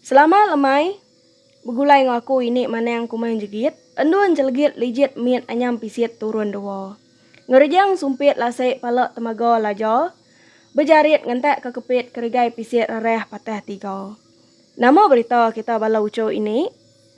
Selamat lemai begulai enggau aku ini manang kumang jegit endun celegit lijit mit anyam pisit turun dua. Ngerejang sumpit lasi pala temaga laja bejarit ngentak ke kepit keregai pisit rerah patah tiga. Nama berita kita bala uchu ini?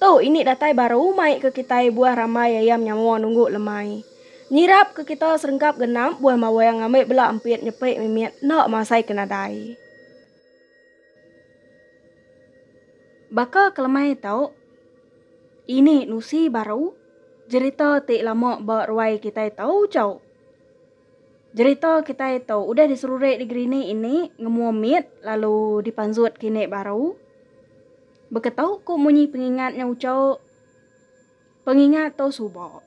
Tu ini datai baru mai ke kitai buah rambai iya menyamua nunggu lemai. Nyirap ke kita serengkap genap buah mawang ngambi bela empit nyepi mimit enda masai ke nadai. Baka ke lemai tu, ini nusi baru jerita ti lama ba ruai kitai tu chau. Jerita kitai tu udah diseruri di gerinik ini ngemua mit lalu dipanzut kinik baru. Baka tau ku munyi pengingat nya ucau pengingat tau suba.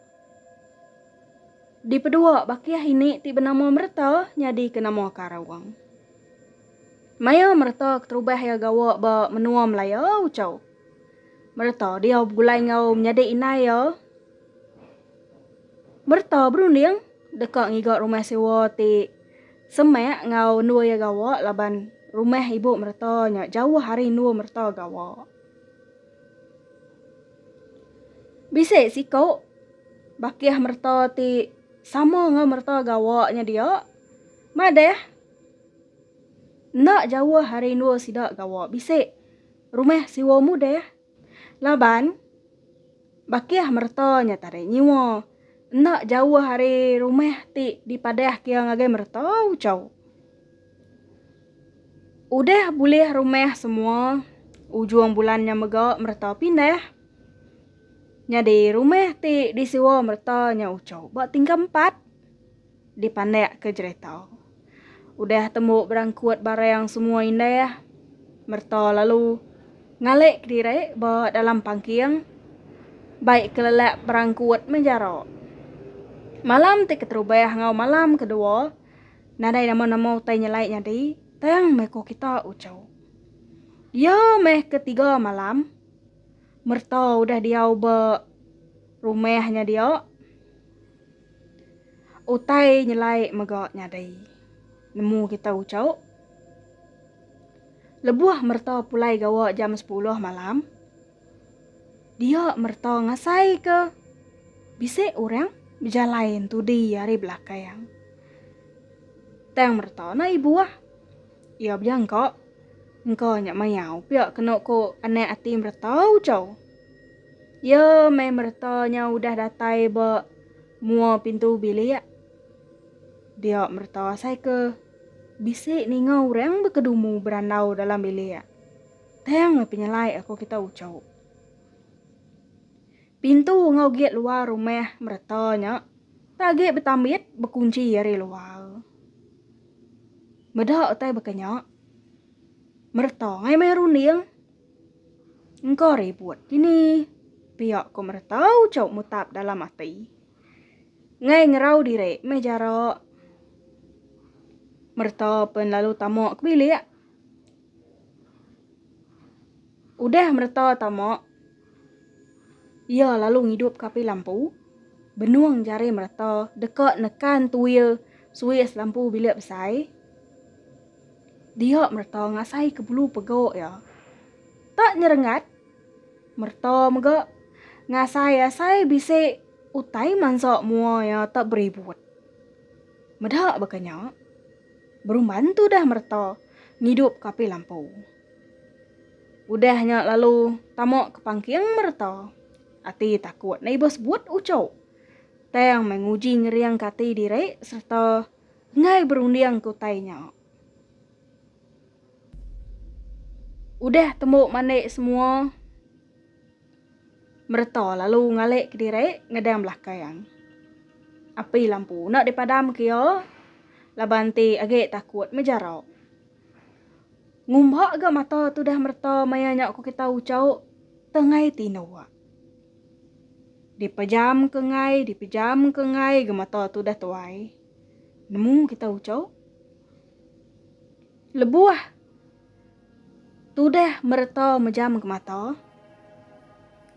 Dipedua bakih ini ti benama mereta nyadi ke nama karung. Maya mereta keterubah iya gawa ba menua Melaya ucau mereta diau begulai enggau menyadi indai iya. Mereta berunding deka ngiga rumah sewa ti. Semak enggau endur iya gawa laban rumah ibu mereta nya jauh ari endur mereta gawa. Bisi siku bakih mereta ti sama enggau mereta gawa nya dia madah enda jauh ari endur sida gawa bisi rumah siwa mudah. Laban, bakih mereta nya tadi nyiwa enda jauh ari rumah ti dipadah kia ngagai mereta Uchau. Udah bulih rumah semua, ujung bulan nya mega mereta pindah. Nyadi rumah ti disewa mereta nya Uchau ba tingkap empat. dipandakka jerita. Udah tembu berangkut barang semua indah, Merta lalu ngalik kediri ba dalam pangking bai kelelak berangkut meh jara. Malam ti keterubah enggau malam kedua nadai nama-nama utai nyelai nyadi tang meh ko kita uchu. Iya meh ketiga malam. Merta udah diau ba rumah nya dia, utai nyelai mega nyadi nemu kita ucok. Lebuh merta pulai gawa jam sepuluh malam, dia merta ngasai ke bisi orang bejalai entudi ari belakang. Tang merta na ibuh. Iya bia engka. Engka nya mayau pia kenu ku anak ati mereta ujau. Iya meh mereta nya udah datai ba mua pintu bilik. Dia mereta asai ke bisi ninga orang bekedumu berandau dalam bilik. Tang meh penyelai aku kita ujau. Pintu enggau gate luar rumah mereta nya agi betambit bekunci ari luar. Meda utai baka nya, Merta ngai mai runding. Engka ribut dini, pia ko Merta ucau mutap dalam ati. Ngai ngerau diri meh jara. Merta pen lalu tama ke bilik. Udah mereta tama, iya lalu ngidup ke api lampu. Benung jari mereta deka nekan tuil suis lampu bilik besai. Dia mereta ngasai ke bulu pega iya. Tak nyerengat, mereta mega ngasai-asai bisi utai mansa mua iya tak beribut. Meda baka nya. Berumban tudah mereta ngidup ke api lampu. Udah nya lalu tama ke pangking mereta. Ati takut ne ibuh sebut ucuk. Tang meh nguji ngering ke ati diri sereta enggai berunding ke utai nya. Udah tembu mandi semua. Mereta lalu ngalik ke diri ngedang belakang yang api lampu enda dipadam ke ia laban ti agi takut meh jarak. Ngumba ga mata tudah mereta maya nya ku kita uchauk tengai tinduk. Dipejam ke ngai dipejam ke ngai ga mata tudah tuai. Nemu kita uchauk lebuh. Tudah mereta mejam gemata,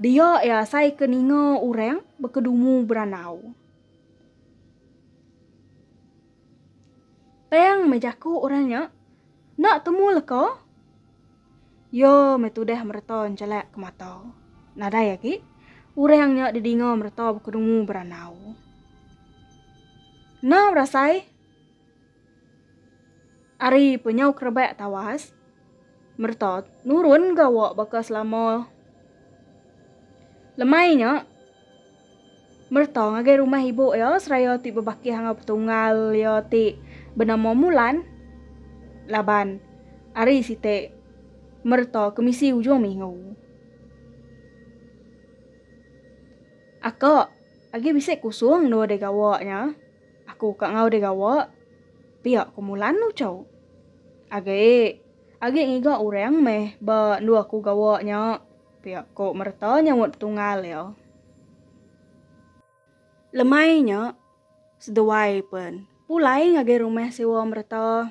dia iya asai ke ninga orang bekedumu berandau. Tang meh jaku orang nya, enda temu leka, iya meh tudah mereta njelak ke mata. Nadai agi orang nya didinga mereta bekedumu berandau. Enam rasai. Ari penyau kerebak tawas, Merta nurun gawa baka selama. Lemai nya, Merta ngagai rumah ibu iya seraya ti bebakih enggau petunggal iya ti benama Mulan laban ari siti Merta ke misi ujung minggu. Aka agi bisi kusung dua digawa nya. Aku ka enggau deh gawa. Pia ku Mulan ucau. Agi. Agi ngiga orang meh ba endu aku gawa nya. Pia ku Merta nyaut betunggal iya. Lemai nya, seduai pen pulai ngagai rumah sewa Merta.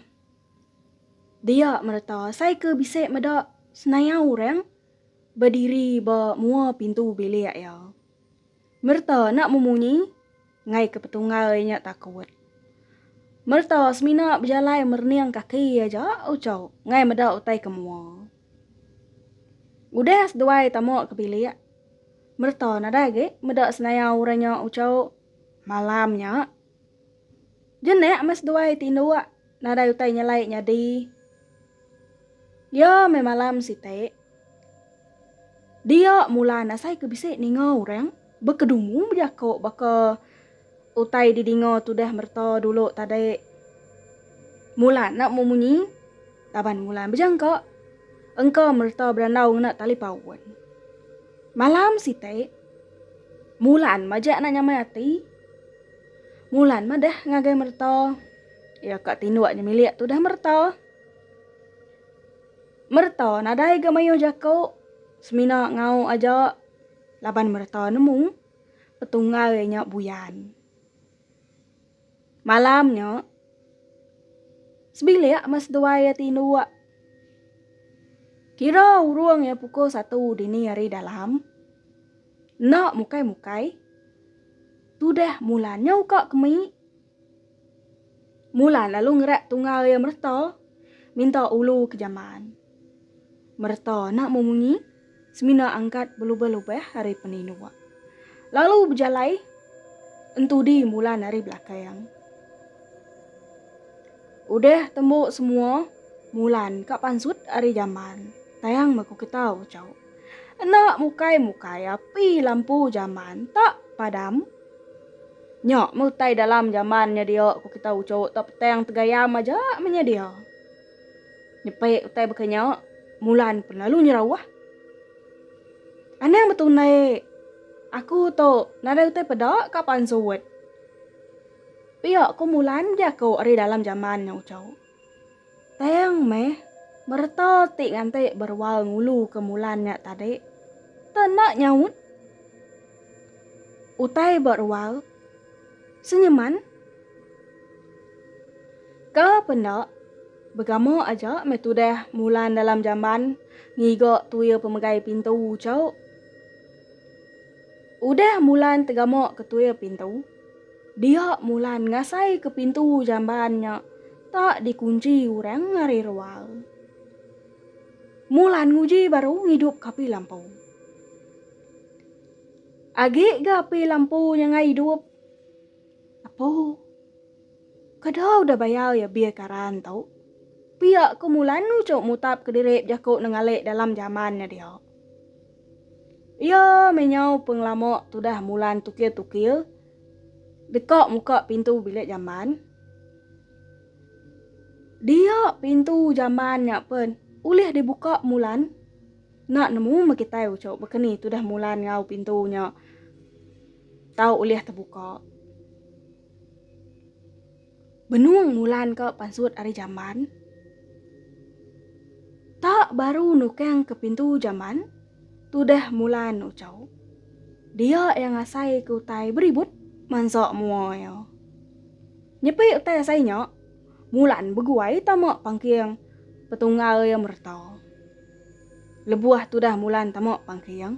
Dia Merta asai ke bisi meda senayau orang bediri ba mua pintu bilik iya. Merta enda memunyi enggai ke petunggal iya nya takut. Merta semina bejalai merening kaki aja uchu enggai meda utai ke mua. Udah seduai tama ke bilik, Merta nadai agi meda senaya orang nya uchu malam nya. Jenek meh seduai ti indu wak nadai utai nyelai nyadi. Dia meh malam siti. Dia mulan asai ke bisi ninga orang bekedumu bejako baka utai di dinga tudah mereta dulu tadi. Mulan enda mu munyi laban mulan bejangka engka mereta berandau ngena tali paun. Malam siti, mulan majak enda nyamai ati. Mulan madah ngagai merta. Iya ka tinduk nyemilik tudah merta. Merta nadai ga mayuh jaku, semina ngau aja laban merta nemu petunggai nya buyan. Malam nya, sebilik meh seduai iya tinduk. Kira urung iya pukul satu dini hari dalam. Enda mukai-mukai. Tudah Mulan nyau ka kemi. Mulan lalu ngerat tunggal iya Merta minta ulu ke jaman. Merta enda mau munyi semina angkat belubah-lubah ari peninduk. Lalu bejalai entudi Mulan ari belakang. Udah tembu semua, Mulan ka pansut ari jaman tayang ba Kukitau, Chauk. Enda mukai-mukai api lampu jaman ta padam. Nya meh utai dalam jaman nya dia ku kita uchu ta petang tegayam aja meh nya dia. Nyepi utai baka nya Mulan pun lalu nyerauh. Anang betundi aku tu nadai utai peda ka pansut. Pia ku Mulan jaku ari dalam jaman nya uchu. Tang meh, mereta ti nganti berual ngulu ke mulan nya tadi, te enda nyaut. Utai berual, senyeman. Ka penda, begama aja meh tudah mulan dalam jamban ngiga tuil pemegai pintu chau. Udah Mulan tegamuk ke tuil pintu, dia Mulan ngasai ke pintu jamban nya tak dikunci urang ari rual. Mulan nguji baru ngidup ke api lampu. Agi ga api lampu nya ngai idup. Apo? Kada udah bayar ya bil karan tu? Pia ku Mulan nuchuk mutap ke diri bejaku nengalik dalam jamban nya dia. Iya meh nyau pengelama tudah mulan tukil-tukil deka muka pintu bilik jamban. Dia pintu jamban nya pen ulih dibuka mulan enda nemu meh kitai uchu baka ni tudah mulan enggau pintu nya tau ulih tebuka. Benung mulan ke pansut ari jamban. Tak baru nukang ke pintu jamban, tudah mulan ucau. Dia iya ngasai ke utai beribut mansa mua iya. Nyepi utai asai nya, mulan beguai tama pangking petunggal iya mereta. Lebuh tudah mulan tama pangking.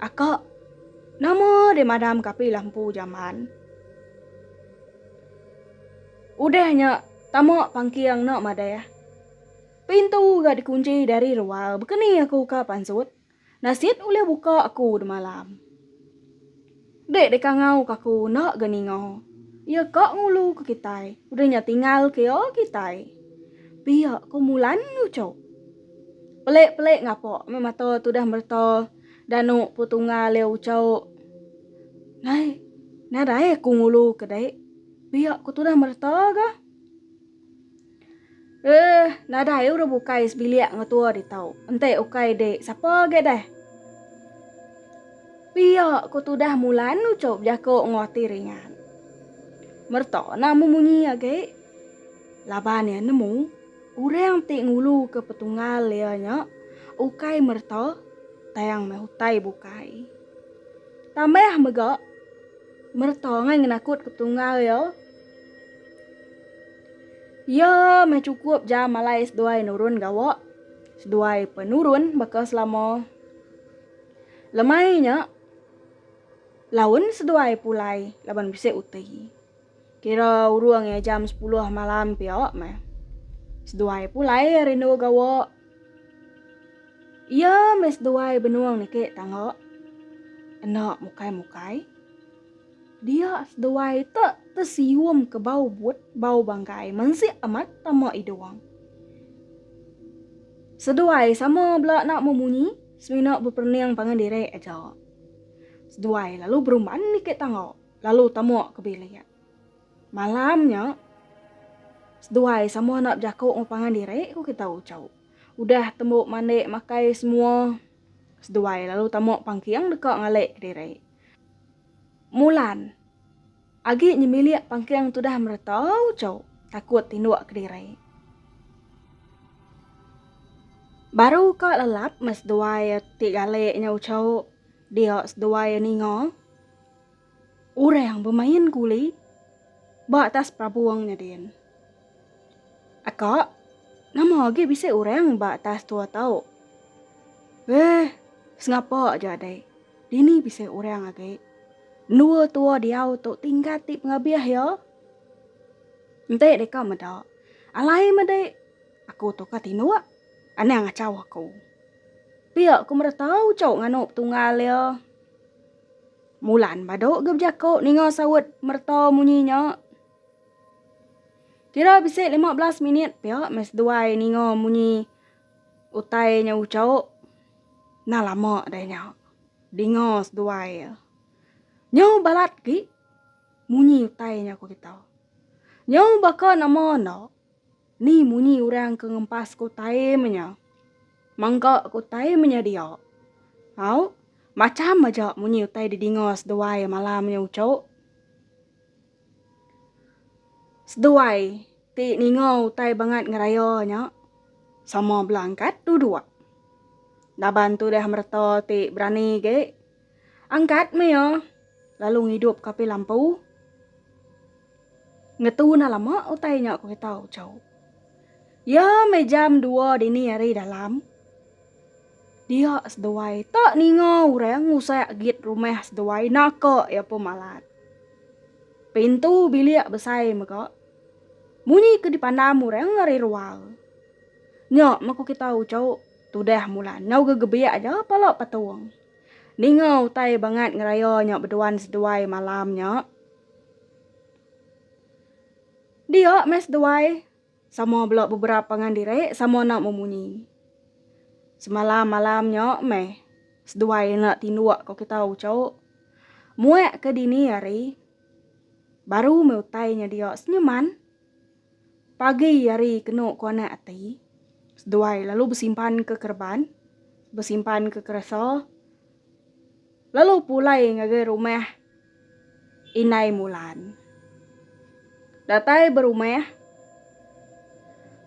Aka, nama deh madam ka api lampu jaman. Udah nya tama pangking enda madah. Pintu ga dikunci dari rual, baka ni aku ka pansut. Nasit ulih buka aku demalam. Dek deka ngau ka aku enda ga ninga. Iya ka ngulu ke kitai. Udah nya tingal ke iya kitai. Pia ko Mulan lucu. Pelik pelik ngapa meh mata tudah merta danu po tunggal iya uco. Nai nadai aku ngulu ke dek. Pia ko tudah merta ga. Eeh, nadai urang bukai sebilik enggau tua ditu. Enti ukai dik, sapa agi deh? Pia, ku tudah Mulan nuchau bejaku enggau ati ringan. Merta nah mu munyi agi. Laban iya nemu, urang ti nguluka petunggal iya nya ukai merta tang meh utai bukai. Tambah mega, merta angai ngenakutka petunggal iya. Iya meh chukup jam alai seduai nurun gawa, seduai penurun baka selama. Lemai nya, laun seduai pulai laban bisi uti. Kira urung iya jam sepuluh malam pia meh. Seduai pulai rindu gawa. Iya meh seduai benung niki tangga. Enda mukai-mukai. Dia seduai te tesium ke bau but, bau bangkai, mensik amat tama idung. Seduai sama bela enda memunyi, semina beperening pangan diri aja. Seduai lalu berumban niki tangga, lalu tama ke bilik. Malam nya, seduai sama enda bejaku enggau pangan diri, ku kita uchu. Udah tembu mandi makai semua, seduai lalu tama pangking deka ngalik kediri. Mulan. Agi nyemilik pangking tudah mereta uchu takut tinduk kediri. Baru ka lelap meh seduai ti galik nya uchu dia seduai ninga orang bemain kuli ba atas perabung nya din. Aka, nama agi bisi orang ba atas tua tau? Heh, sengapa aja adai. Dini bisi orang agi. Endua tua diau tu tinggal ti pengabih iya. Enti deka meda, alai medi aku tu ka tinduk. Anang achau aku. Pia ku meda tau chau nganu petunggal iya. Mulan badu agi bejaku ninga saut mereta munyi nya. Kira bisi lima belas minit pia meh seduai ninga munyi utai nya uchauk. Nah lama deh nya dinga seduai iya. Nyau balat agi munyi utai nya ku kita. Nyau baka nama enda ni munyi orang ke ngempas ku time nya. Mangka ku time nya dia. Au macham aja munyi utai didinga seduai malam nya uchauk. Seduai ti ninga utai bangat ngeraya nya sama bela angkat dua-dua. Laban tudah mereta ti berani ge angkat meh iya lalu ngidup ke api lampu. Ngetu enda lama utai nya ku kita uchu. Iya meh jam dua dini hari dalam. Dia seduai ta ninga orang ngusak git rumah seduai naka iya pun malat. Pintu bilik besai mega munyi ke dipandam orang ari rual. Nya meh ku kita uchu tudah mulan nyau gegebik aja pala patung. Ninga utai bangat ngeraya nya beduan seduai malam nya. Dia meh seduai. Sama bela beberap pangan diri sama enda memunyi. Semalam malam nya meh seduai enda tinduk ko kita uchu. Muak ke dini hari baru meh utai nya dia senyeman. Pagi hari kenu ko anak ati seduai lalu besimpan ke kereban besimpan ke keresa. Lalu pulai ngagai rumah Indai Mulan. Datai ba rumah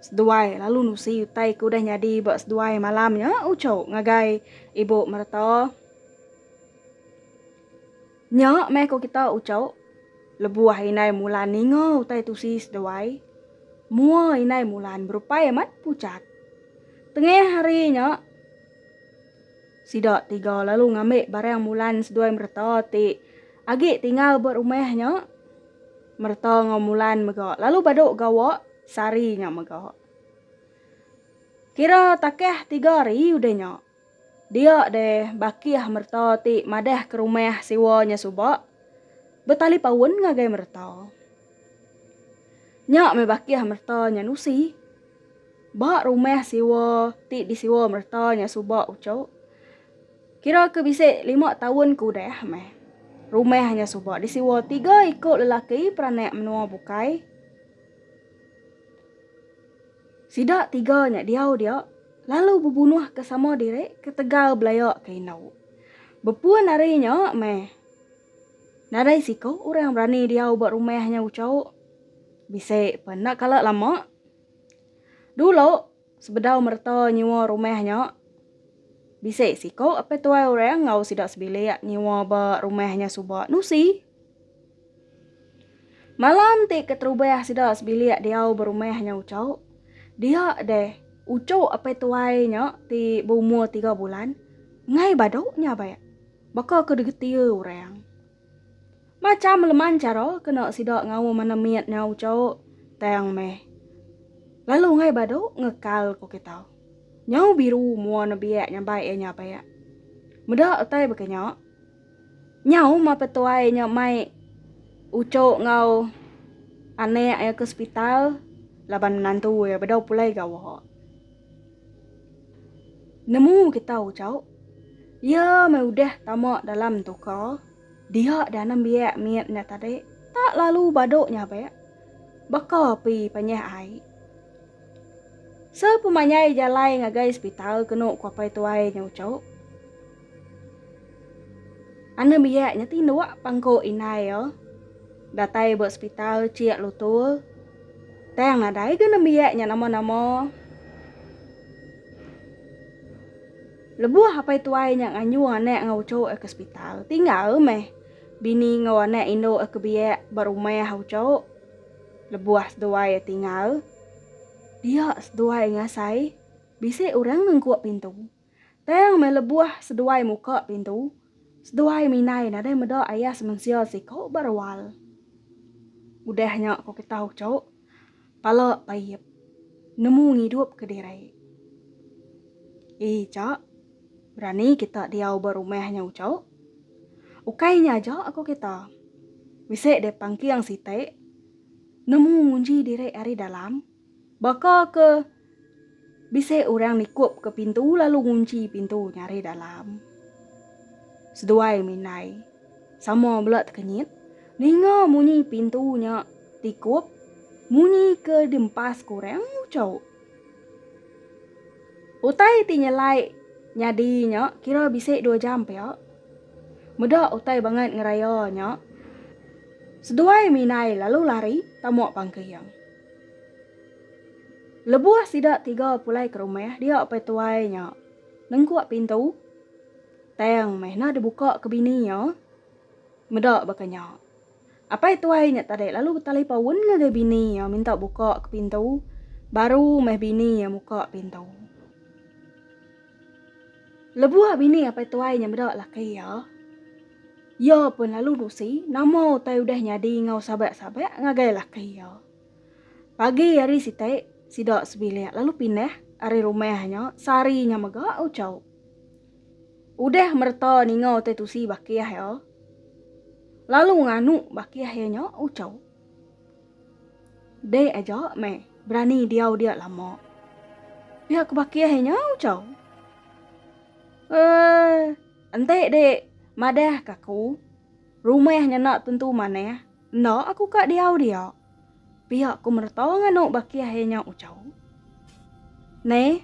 seduai lalu nusi utai ke udah nyadi ba seduai malam nya uchu ngagai ibu mereta. Nya meh ko kita uchu lebuh Indai Mulan ninga utai tusi seduai mua Indai Mulan berupai amat pucat. Tengah hari nya. Sida tiga lalu ngambi barang Mulan seduai Merta ti agi tinggal ba rumah nya. Merta enggau Mulan mega lalu badu gawa sehari nya mega. Kira takah tiga hari udah nya, dia deh bakih Merta ti madah ke rumah siwa nya suba betalipaun ngagai Merta. Nya meh bakih Merta nya nusi. Ba rumah siwa ti disiwa mereta nya suba uchu, kira ke bisi lima taun ke udah meh. Rumah nya suba disiwa tiga iku lelaki peranak menua bukai. Sida tiga nya diau dia lalu bebunuhka sama diri ketegal belaya ke indu. Bepun ari nya meh, nadai siku orang berani diau ba rumah nya uchu. Bisi pun enda kala lama. Dulu, sebedau mereta nyewa rumah nya, bisi siku apai tuai orang enggau sida sebilik nyewa ba rumah nya suba nusi. Malam ti keterubah sida sebilik diau ba rumah nya uchu, dia deh uchu apai tuai nya ti beumur tiga bulan ngai badu nya ba iya. Baka ke digetir orang. Macham leman chara kena sida ngaum anak mit nyau chau tang meh. Lalu enggai badu ngekal ko kita. Nyau biru mua nebiak nyambai iya nya pea. Meda utai baka nya. Nyau ma petuai nya mai uchu enggau anak iya ke sepital laban menantu iya bedau pulai gawa. Nemu kita ucau, iya meh udah tama dalam toka dia dah nembiak mit nya tadi tak lalu badu nyabak baka api panyah ai. Sepemanjai jalai ngagai sepital kenu ku apai tuai nya ucau. Tanda biak nya tinduk pang ko indai iya. Datai ba sepital chik lutur. Tang nadai ga nembiak nya nama-nama. Lebuh apai tuai nya nganjung anak enggau uchu iya ke sepital, tinggal meh bini enggau anak indu iya ke biak ba rumah uchu. Lebuh seduai iya tinggal, dia seduai ngasai bisi orang nengkuk pintu. Tang meh lebuh seduai muka pintu, seduai minai nadai meda ayah semensia siko ba rual. Udah nya ko kita uco, pala paip, nemu ngidup ke diri. Eja, berani kita diau ba rumah nya uco. Ukai nya aja ko kita, bisi deh pangking siti, nemu ngunji diri ari dalam. Baka ke bisi orang nikup ke pintu lalu ngunchi pintu nyari dalam. Seduai Minai sama bela tekenyit ninga munyi pintu nya tikup munyi ke diempas ke orang uchauk. Utai ti nyelai nyadi nya kira bisi dua jam pia. Meda utai bangat ngeraya nya, seduai Minai lalu lari tama pangking. Lebuh sida tiga pulai ke rumah dia pai tuai nya nengkuk pintu tang meh enda dibuka ke bini iya meda baka nya. Apai tuai nya tadi lalu betalipaun ngagai bini iya minta buka ke pintu baru meh bini iya muka pintu. Lebuh bini apai tuai nya meda laki iya, iya pun lalu nusi nama utai udah nyadi enggau sabak-sabak ngagai laki iya. Pagi hari siti, sida sebilik lalu pindah ari rumah nya sehari nya mega uchauk. Udah mereta ninga utai tusi bakih iya, lalu nganu bakih iya nya uchauk. Dek aja meh berani diau dia lama. Pia ke bakih inya ucau. Eeh enti dek madah ke aku rumah nyena tentu manah enda aku ka diau dia. Pia ku mereta nganu bakih inya ucau. Neh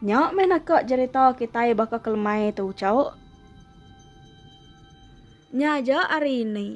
nya meh naka jerita kitai baka kelemai tu ucau. Nya aja ari indi